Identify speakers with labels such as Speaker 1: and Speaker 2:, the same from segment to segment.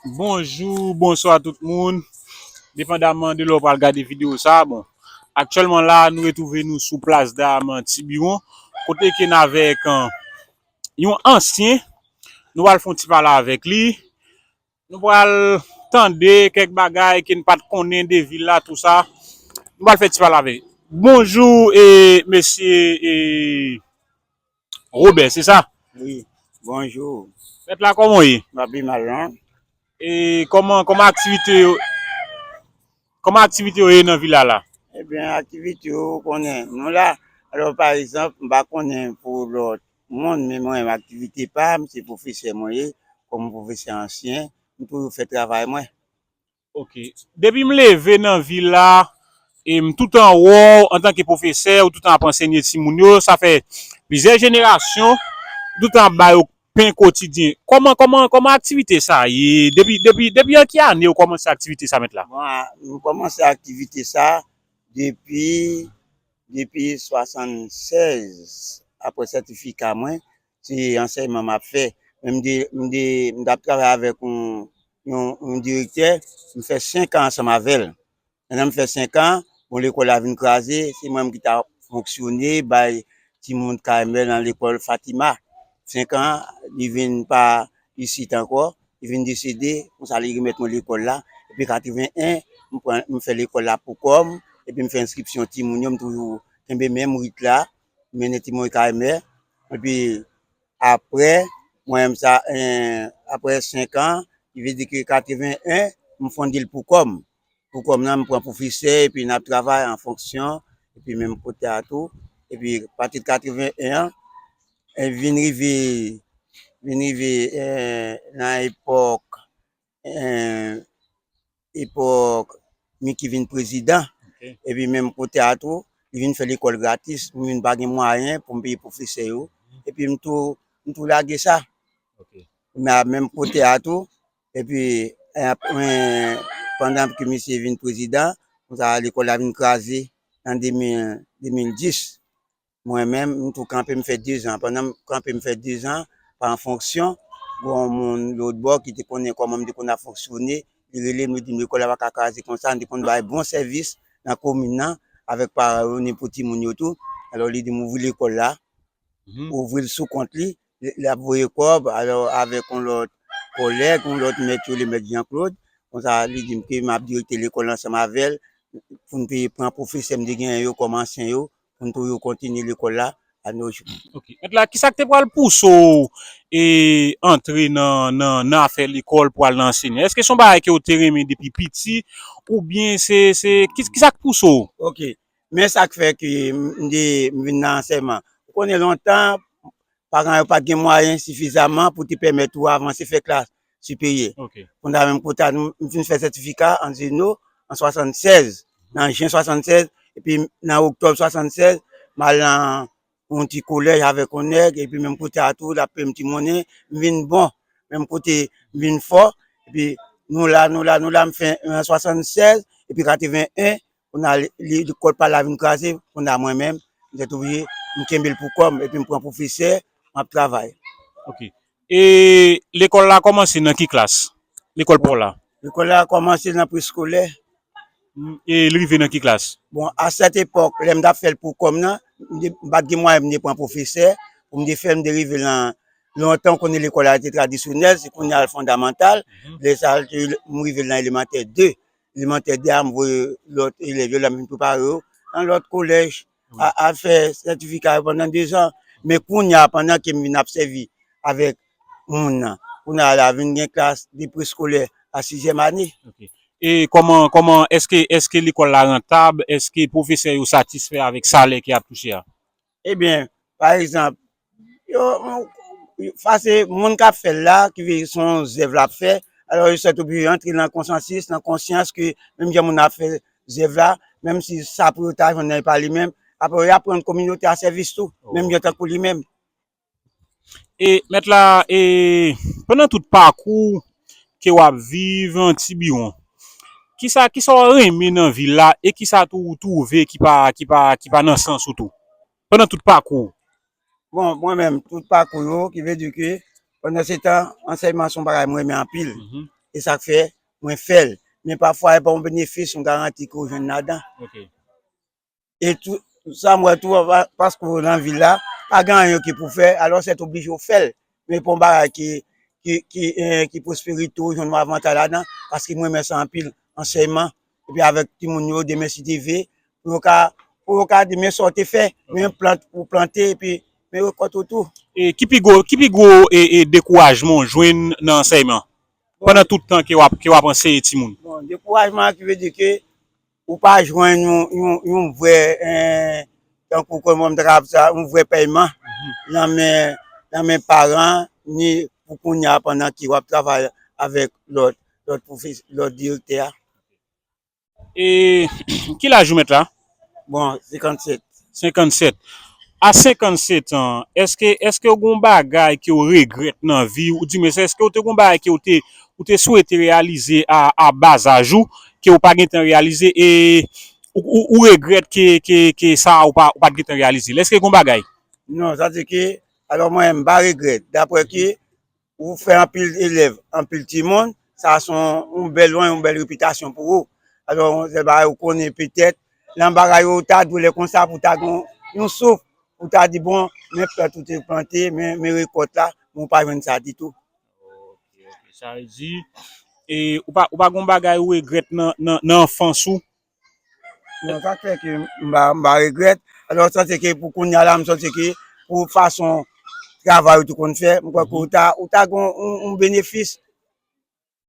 Speaker 1: Bonjou bonswa tout moun depandaman de lè ou pral gade video sa bon aktyèlman la nou retwouve nou sou plas dam tibiwon kote ke n avèk yon ansyen nou pral fon ti pale avèk li nou pral tande kèk bagay ke n pat konnen de vil la tou sa nou pral fè ti pale avèk bonjou mesye e. Robert se sa? Wi
Speaker 2: bonjou. Mèt la kòman
Speaker 1: w ye? M pa pi mal non. E kòman kòman
Speaker 2: aktivite yo
Speaker 1: kòman aktivite yo ye nan vila la? Ebyen aktivite
Speaker 2: yo ou konnen nou la alò pa egzanp m pa konnen pou lòt moun men mwen menm aktivite pa m se pwofesè mwen ye kòm pwofesè ansyen m toujou fè travay mwen. Ok
Speaker 1: depi m leve nan vi la e m tout an wè w antan ke pwofesè ou tout an ap ansenye timoun yo sa fè plizyè jenerasyon ou tout an ap ba yo pen kotidyen kòman kòman kòman aktivite sa ye depi depi depi an ki ane ou kòmanse aktivite sa mèt la. Bon nou kòmanse
Speaker 2: aktivite sa depi depi 76 aprè sètifika mwen se ansèyman map fè, men m tap travay avèk yon direktè, m fè 5 an ansanm avèl, pandan m fè 5 an, bon lekòl la vin kraze, se mwen menm ki ta fonksyone, bay timoun kay mwen nan lekòl Fatima, 5 an, li vin pa isit ankò, li vin desede, konsa li remèt mwen lekòl la, epi 81, m fè lekòl la pou kòm, epi m fè enskripsyon timoun yo, m toujou kenbe menm rit la, m mennen timoun kay mè, Epi aprè mwen m sa aprè 5 an ki vle di ke 81 m fondel pou kòm. Pou kòm nan m pran pwofesè epi nap travay an fonksyon epi menm kote a tou. Epi pati de 81 an vin rive vin rive nan epòk epòk Micky vin prezidan, epi menm
Speaker 1: kote a
Speaker 2: tou, li vin fè lekòl gratis, mwen vin pa gen mwayen pou m peye pwofesè yo, epi m tou, m tou lage sa.
Speaker 1: Men a menm
Speaker 2: kote a tou, epi mwen, pandan ke misye vin prezidan, konsa lekòl la vin kraze an 2010. Mwen menm, m tou kanpe m fè 2 zan. Pandan m kanpe m fè 2 zan, pa an fonksyon, gen yon moun lotbò ki te konnen kòman m te konn ap fonksyone, li rele m, li di m lekòl la pa ka kraze konsa, nou te konn bay bon sèvis nan komin nan, avèk paran yo, ni pou timoun yo tou. Alò, li di m ouvri lekòl la, ouvri l sou kont li, l ap voye kòb, alò, avèk yon lòt kòlèg, yon lòt mèt yo rele mèt Janklod, konsa li di m ke m ap direkte lekòl ansanm avè l, pou n te pran pwofesè m te genyen yo kòm ansyen yo. poun pou yo kontinye lekòl la a no jou. Ok mèt la kisak te
Speaker 1: pral pouse w e antre nan nan afè lekòl pou al nan anseyan eske son bagay ke ou te renmen depi piti oubyen se se kisak pouse w. Ok
Speaker 2: men sak fè ke m te m vin nan ansèyman ou konnen lontan paran yo pat gen mwayen sifizaman pou te pèmèt ou avanse fè klas Supérieur. Konsa menm
Speaker 1: kou ta nou,
Speaker 2: m fin fè sètifika an Zeno an 76, nan jen 76, epi nan oktòb 76, m al nan yon ti kolèj avèk yon nèg, epi menm kou ta tou, l ap peye m ti monnen, m vin bon, menm kote m vin fò, epi nou la, nou la, nou la, m fin an 76, epi 81, Kounye a li lekòl pa l la vin kraze, kounye a mwen menm m te touye, m kenbe l pou kò m epi m pran pwofesè m ap travay. Ok. E
Speaker 1: lekòl la kòmanse nan ki klas? Lekòl pa w la. Lekòl la kòmanse
Speaker 2: nan preskolè. E
Speaker 1: li rive nan ki klas? Bon, a sèt epòk
Speaker 2: lè m t ap fè l pou kò m nan, m pa t gen mwayen pou m te pran pwofesè pou m te fè l, m te rive nan lontan ou konnen lekòl la te tradisyonèl, se kounye a l fondamantal, lè sa a m rive nan elemantè 2. Elemantè 2 a m voye lòt elèv yo la m vin prepare yo nan lòt kolèj al fè sètifika yo pandan dezan. Men kounye a pandan ke m vin ap sèvi avèk moun nan, kounye a la vin gen klas de preskolè a sizyèm ane. E
Speaker 1: kòman, kòman, èske, èske lekòl la rantab? Èske pwofesè yo satisfè avèk salè ke y ap touche a? Ebyen,
Speaker 2: pa egzanp, yo fase moun k ap fè l la, ki vle di se yon zèv l ap fè, alò yo sèt oblije antre nan konsansis, nan konsyans ke menm jan moun nan ap fè zèv la, menm si sa pou yo ta jwenn nan e pa li menm, apre yo aprann kominote a sèvis tou, menm jan tankou li menm.
Speaker 1: E mèt la e pandan tout pakou ke wap viv an tibiwon kisa kisa ou renmen nan vil la e kisa tou ou twouve ki pa ki pa ki pa nan sans ou tou pandan tout pakou ou. Bon mwen
Speaker 2: menm tout pakou yo ki vle di ke pandan se tan ansèyman son bagay mwen renmen anpil e sak fè mwen fèl men pafwa epa yon benefis yon garanti ke ou jwenn ladan. e tou sa m wè tou paske ou nan vil la pa gen anyen ki pou fè alò sèt oblije ou fèl men pou yon bagay ki ki pwospere tou jwenn yon avantay ladan paske m renmen sa anpil ansèyman epi avèk timoun yo demen si Dye ve pou yo ka pou yo ka demen sa ou te fè men yon plant ou plante epi men rekòt ou tou. Ki pi gwo
Speaker 1: ki pi gwo dekourajman ou jwenn nan ansèyman pandan tout tan ke w ap anseye timoun? Bon dekourajman ki
Speaker 2: vle di ke Ou pa jwenn yon vrè tankou kòman m ta ka ap di sa, yon vrè pèyman nan men nan men paran an ni pou kounye a pandan ke w ap travay avèk lòt lòt pwofesè lòt direktè a.
Speaker 1: E ki laj ou mèt la? Bon
Speaker 2: 57.
Speaker 1: 57, a 57 an, èske, èske ou gon bagay ke ou regrèt nan vi ou, di mwens èske ou te gon bagay ke ou te, ou te swete reyalize a, a ba zaj ou, ke ou pa gentan reyalize e ou, ou, ou regrèt ke, ke, ke sa a ou pa, ou pat gentan reyalize l, èske gon bagay? Non, sa se ke,
Speaker 2: alò mwen, m pa regrèt, daprè ke Ou fè anpil elèv, anpil timoun, sa a se yon bèl non, yon bèl repitasyon pou ou. Alò, se bagay ou konnen petèt, nan bagay yo ou ta dwe lè konsa pou w ta gen yon souf, pou w ta di bon, men plant ou te plante, men rekòt la, men ou pa jwenn sa ditou.
Speaker 1: Sa vle di, ou pa gen yon bagay ou regrèt nan anfans ou? Bon,
Speaker 2: sa fè ke mba regrèt. Alò, sa se ke pou koun ya la, msò se ke pou fason travay ou te konn fè, mkwè ke ou ta gon yon benefis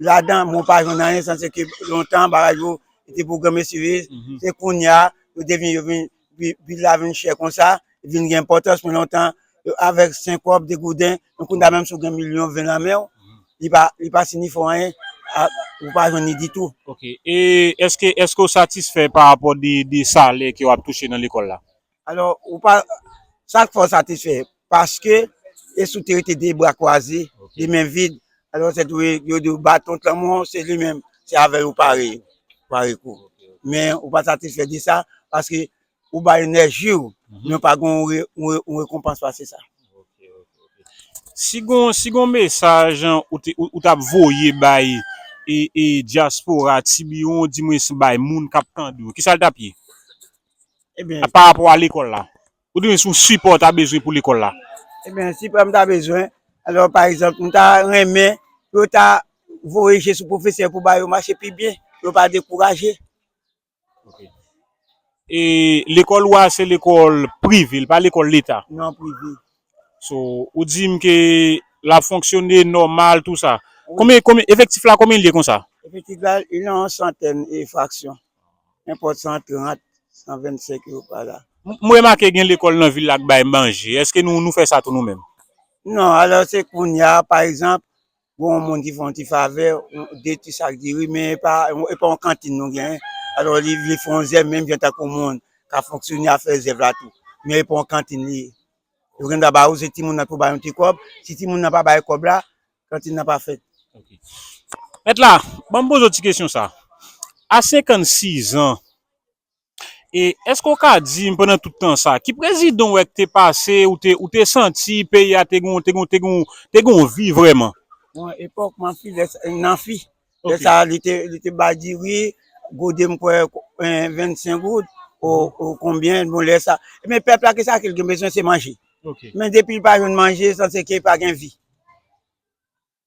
Speaker 2: la dan, mwen pa jwenn anyen, sa se ke lontan, bagay yo, te pwograme sivil, se koun ya, yo te vin, yo vin. Vil la vin chè konsa, li vin gen enpòtans pou lontan, avèk 5 kòb, 2 gouden, men kounye a menm si w gen milyon 20 nan men w, li pa sinifye anyen, ou pa jwenn ni ditou. Ok, e
Speaker 1: èske, èske ou satisfè pa rapò de salè ke w ap touche nan lekòl la? Alò, ou pa,
Speaker 2: sa k fè w satisfè? Paske, e si w te rete de bra kwaze, de men vid, alò se dwe yo di w baton t lanmò an se li menm, se avè l ou pare yo, pare kou. Men ou pa satisfè de sa, paske ou bay enèji w, men ou pa gen yon rekonpans pase sa.
Speaker 1: Si gen yon mesaj ou t ap voye bay dyaspora Tibiwon, dimwens bay moun k ap tande w, ki sa l t ap ye?
Speaker 2: Ebenn. Parapò a lekòl la.
Speaker 1: Ou di men se yon sipò ou ta bezwen pou lekòl la? Ebyen, sipò m
Speaker 2: ta bezwen, alò pa egzanp, m ta renmen pou yo ta voye je sou pwofesè pou ba yo mache pi byen, pou yo pa dekouraje. Ok.
Speaker 1: E lekòl ou a se lekòl prive, li pa lekòl leta? Non, prive.
Speaker 2: So,
Speaker 1: ou di m ke l ap fonksyone nòmal tou sa. Konbyen, konbyen, efektif la konbyen li ye konsa? Efektif la, li nan yon
Speaker 2: santèn e fraksyon. Nenpòt 130, 125 yo pa la. M remake gen
Speaker 1: lekòl nan vil la k bay manje. Èske nou fè sa tou nou menm? Non, alò
Speaker 2: se kounye a, pa egzanp, gen yon moun ki fè yon ti favè, de ti sak diri, men e pa yon kantin nou gen. Alò li vle fè yon zèv menm jan tankou moun k ap fonksyone a fè zèv la tou. Men e pa yon kantin li ye. Yo gendwa ba ou, se timoun nan ki pou ba yon ti kòb. Si timoun nan pa bay kòb la, Kantin nan pa fèt.
Speaker 1: Mèt la, ban m poze w ti kesyon sa. A 56 an, e èske w ka di m pandan tout tan sa, ki prezidan w wè k te pase, ou te ou te santi peyi a te gon te gon te gon te gon vi vrèman? Bon, epòk
Speaker 2: m anfile, nan fi, Lè sa a, li te bay diri, gode m kwè 25 goud ou konbyen, bon lè sa a. Men pèp la, ki sa li gen bezwen, se manje. Men depi li pa jwenn manje, sa se ke li pa gen vi.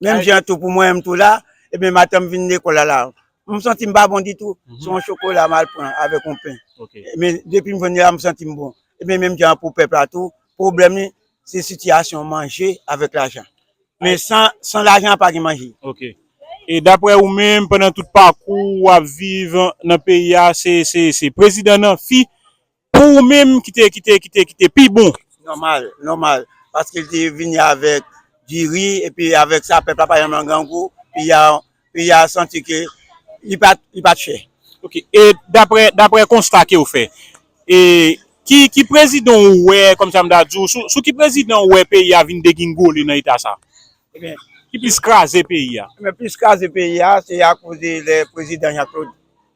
Speaker 2: Menm jan tou pou mwen menm tou la, e ben maten m vin lekòl la la, m santi m pa bon ditou, se yon chokola m al pran avèk yon pen. Men depi m jwenn li la, m santi m bon. E men menm jan pou pèp la tou, Pwoblèm li se sitiyasyon manje avèk lajan. Men san lajan pa gen manje. Ok. E
Speaker 1: daprè ou menm pandan tout pakou ou ap viv nan peyi a se prezidan nan fi pou ou menm ki te pi bon? Nòmal, nòmal.
Speaker 2: Paske li te vini avèk diri epi avèk sa pèp la pa janm an grangou. Peyi a peyi a santi ke li pa li pat chè. Ok e
Speaker 1: daprè daprè konsta kew fè e ki ki prezidan ou wè kòm sa m ta di w sou sou ki prezidan ou wè peyi a vin degingole nan eta sa Ebyen ki
Speaker 2: plis kraze
Speaker 1: peyi a. Ebyen plis kraze peyi
Speaker 2: a se akoz lè prezidan Jean Claude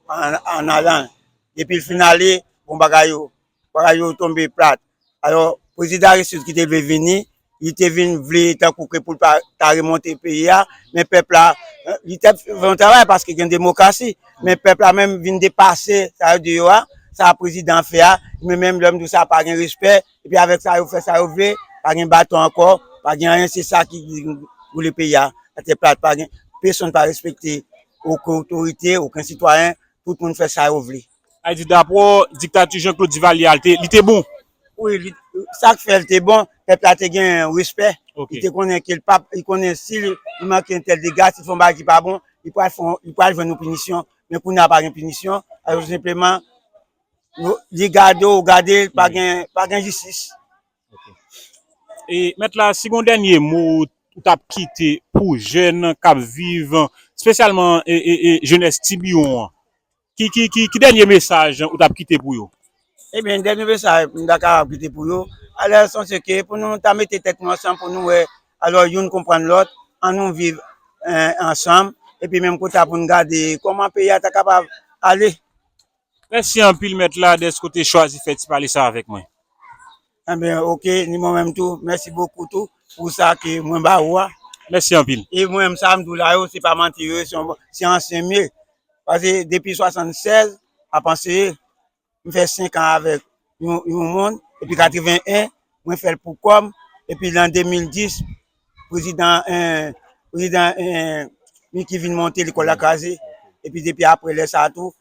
Speaker 2: an alan depil fin ale bon bagay yo Bagay yo tonbe plat. Alò, Prezidan Aristide ki te vle vini, li te vin vle tankou ke pou l ta remonte peyi a, men pèp la, li te fè yon travay paske gen demokrasi, men pèp la menm vin depase sa yo di yo a, sa prezidan an fè a, men menm lè m di w sa pa gen respè, epi avèk sa yo fè sa yo vle, pa gen baton ankò, pa gen anyen, se sa ki boule peyi a atè plat, pa gen, pesonn pa respekte oken otorite, oken sitwayen, tout moun fè sa yo vle. Sa vle di dapre w,
Speaker 1: diktati Jean Claude Duvalier a li te bon? Wi,
Speaker 2: sa k fè li te bon, pèp la te gen respè, li te konnen ke
Speaker 1: li
Speaker 2: konnen si li manke entèl dega, si l fè yon bagay ki pa bon, li pral jwenn yon pinisyon. Men kounye a pa gen pinisyon, alò tou senpleman li gade w gade l, pa gen jistis.
Speaker 1: Mèt la, si gen yon dènye mo ou t ap kite pou jèn k ap viv, espesyalman jenès Tibiwon an? Ki dènye mesaj ou ta kite pou yo? Ebyen dènye
Speaker 2: mesaj m ta kapab kite pou yo, alò sonje ke pou nou ta mete tèt nou ansanm pou nou wè, alò youn konprann lòt, an nou viv ansanm, epi menm kou ta pou nou gade kòman peyi a ta kapab ale. Mèsi
Speaker 1: anpil mèt la dèske ou te chwazi fè ti pale sa avèk mwen. Anben
Speaker 2: ok ni mwen menm tou mèsi bokou tou pou sa ke mwen ba ou a. Mèsi anpil.
Speaker 1: E mwen menm sa m di w la
Speaker 2: yo se pa manti yo ye se yon bon se ansyen m ye pase depi 76 ap anseye m fè 5 an avèk yon moun epi 81 mwen fè l pou kò m epi lan 2010 prezidan prezidan Micky vin monte lekòl la kraze epi depi aprè lè sa tou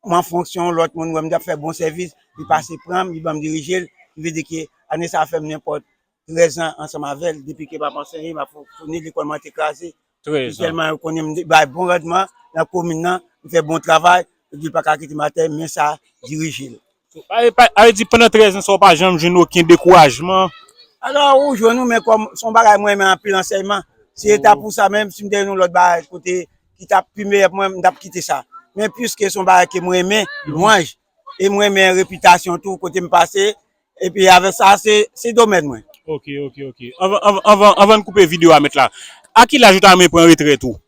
Speaker 2: An fonksyon yon lòt moun wè m t ap fè bon sèvis, li pase pran m, li ban m dirije l. Ki vle di ke ane sa a fè m nenpòt 13 an ansanm avè l depi ke m ap anseye, m ap founi. Lekòl mwen an te kraze. Epi tèlman yo konnen m bay bon randman nan komin nan, m fè bon travay, yo di yo pa ka kite m atè men sa dirije l. A vle
Speaker 1: di pandan 13 ans sa ou pa janm jwenn oken dekourajman? Alò ou
Speaker 2: jwenn wi men kòm son bagay mwen renmen anpil ansèyman, si se ta pou sa menm si m te jwenn yon lòt bagay kote ki ta pi meyè pou mwen m tap kite sa. Men piske son bagay ke m renmen, lwanj, e m renmen repitasyon tou kote m pase, epi avèk sa se domèn mwen. Ok ok ok
Speaker 1: anvan n koupe video a mèt la, a ki laj ou ta renmen pran retrèt ou?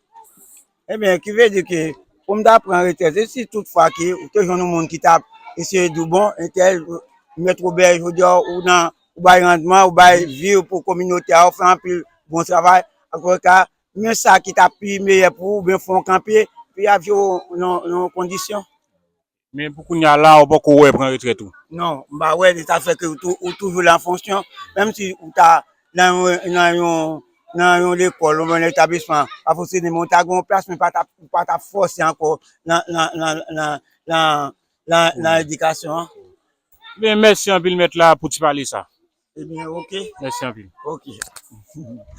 Speaker 1: Ebyen,
Speaker 2: ki vle di ke pou m ta pran retrèt, e si tout fwa ke ou te jwenn yon moun ki ta eseye di w bon, entèl, mèt Robert, jodi a ou nan, ou bay randman, ou bay vi w pou kominote a, ou fè anpil bon travay, ankò ta, men sa ki ta pi meyè pou ou, oubyen fè w kanpe, epi ap jere w nan yon kondisyon. Men pou
Speaker 1: kounya la ou poko wè pran retrèt ou? Non, m pa wè li ta
Speaker 2: fè ke ou toujou lan fonsyon, menm si ou ta lan yon lekòl oubyen yon etablisman pa fòse ni men ou ta gen yon plas men ou pa ta fòse ankò lan edikasyon an.
Speaker 1: Mèsi anpil mèt
Speaker 2: la
Speaker 1: pou ti pale sa. Ebyen ok. Mèsi anpil. Ok.